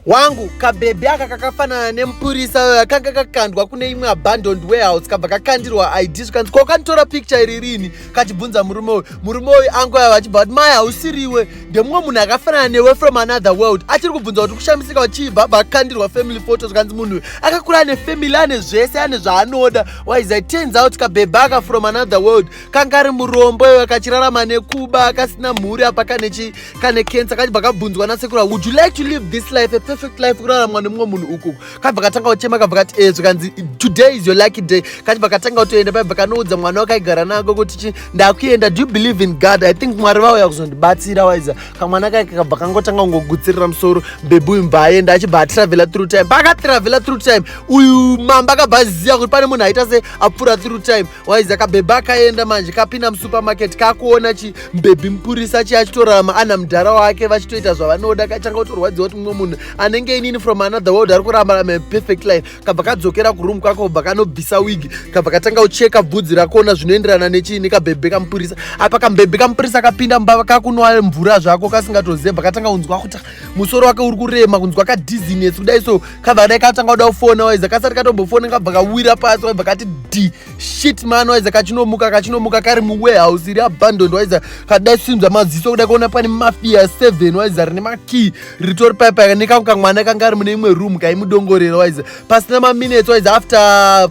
wangu kabhebhi aka kakafanana nemupurisa uyo akanga kakandwa kune imwe abandoned warehouse kabva kakandirwa id zvikanzi ko kanitora picture iri rini kachibvunza murume uyu murume uyu angu ava achibva kuti maya hausiriwe ndemumwe munhu akafanana newe from another world achiri kubvunza kuti kushamisika wachibva abva akandirwa family photo zvikanzi munhu uyu akakura ane family ane zvese ane zvaanoda waiza turns out kabhebhi aka from another world kanga ari murombo iwe kachirarama nekuba kasina mhuri apa kane kane cancer kachibva kabvunzwa nasekura would you like to live this life a perfect life kuraramwa nemumwe munhu uku kabva katanga kuchema kabva kati ezvo eh, kanzi today is your lucky day kachibva katanga kutoenda paibva kanoudza mwana wakaigara nako kuti chi ndakuenda do you believe in god i think mwari vauya kuzondibatsira waiza kamwana kake kabva kangotanga kungogutsirira musoro bebi uyu mba aenda achibva atravela through time paakatravela through time uyu mamba akabva aziva kuti pane munhu aita se apfuura through time waiza kabhebha akaenda manje kapinda musupermarket kakuona chi mbhebhi mupurisa chi achitorarama ana mudhara wake vachitoita zvavanoda kachanga kutorwadziwa kuti mumwe munhu anenge inini from another world ari kurambara perfect life kabva kadzokera kuroom kwako kubva kanobvisa wig kabva katanga kucheka bvudzi rakoona zvinoenderana nechii nekabhebhe kamupurisa apa kambhebhe kamupurisa kapinda mumba kakunwa mvura zvako kasingatoziva bva katanga kunzwa kuti musoro wake uri kurema kunzwa kadizines kudai so kabva kadai katanga kuda kufona waiza kasati katombofona kabva kawira pasi waibva kati d shit man waiza kachinomuka kachinomuka kari muwarehouse iri abandoned waiza kadai simza maziso kuda kuona pane mafia seven waiza rine makey ritori paipa nekangu kamwana kanga ari mune imwe room kaimudongorera waiza pasina maminutes waiza after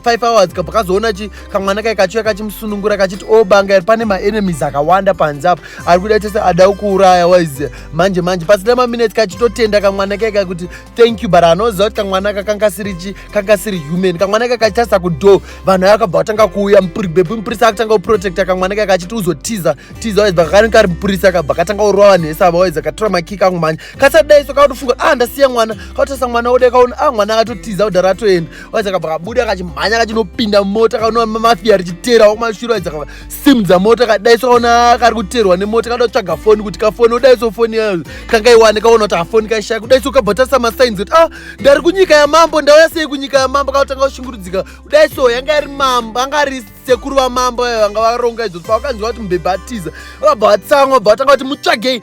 five hours kabva kazoona chi kamwana kai kachiuya kachimusunungura kachiti o oh, banga iri pane maenemies akawanda panze apa ari kuda tese ada kuuraya waiza manje manje pasina maminutes kachitotenda kamwana kai kakuti thank you but anoziva kuti kamwana ka kanga sirichi kanga siri human kamwana kakachasa kudo vanhu aya kabva vatanga kuuya bebu mupurisa akatanga kuprotecta kamwana kaka achiti uzotiza tiza waidza kakani kari mupurisa kabva katanga kurova vanhu vese ava waidza katora makiki angu mhanya kasadai so kakutofunga ah ndasiya mwana kautasa mwana wode kaona ah mwana akatotiza kudhara atoenda waidza kabva kabuda kachimhanya kachinopinda mota kaona mafia richiteera wakumashura waidza sim dzamota kadaiso kaona kari kuterwa nemota kada kutsvaga foni kuti kafoni udaiso foni yayo kangaiwane kaona kuti hafoni kaishaya kudaiso ukabva tarisa masainzi kuti ah ndari kunyika yamambo ndauya sei kunyika yamambo kaotanga kushungurudzika kudaiso yanga yari mambo anga ari sekuru vamambo ayo vanga varonga izvozvo pavakanzwa kuti mbebha atiza vabva vatsamwa bva vatanga kuti mutsvagei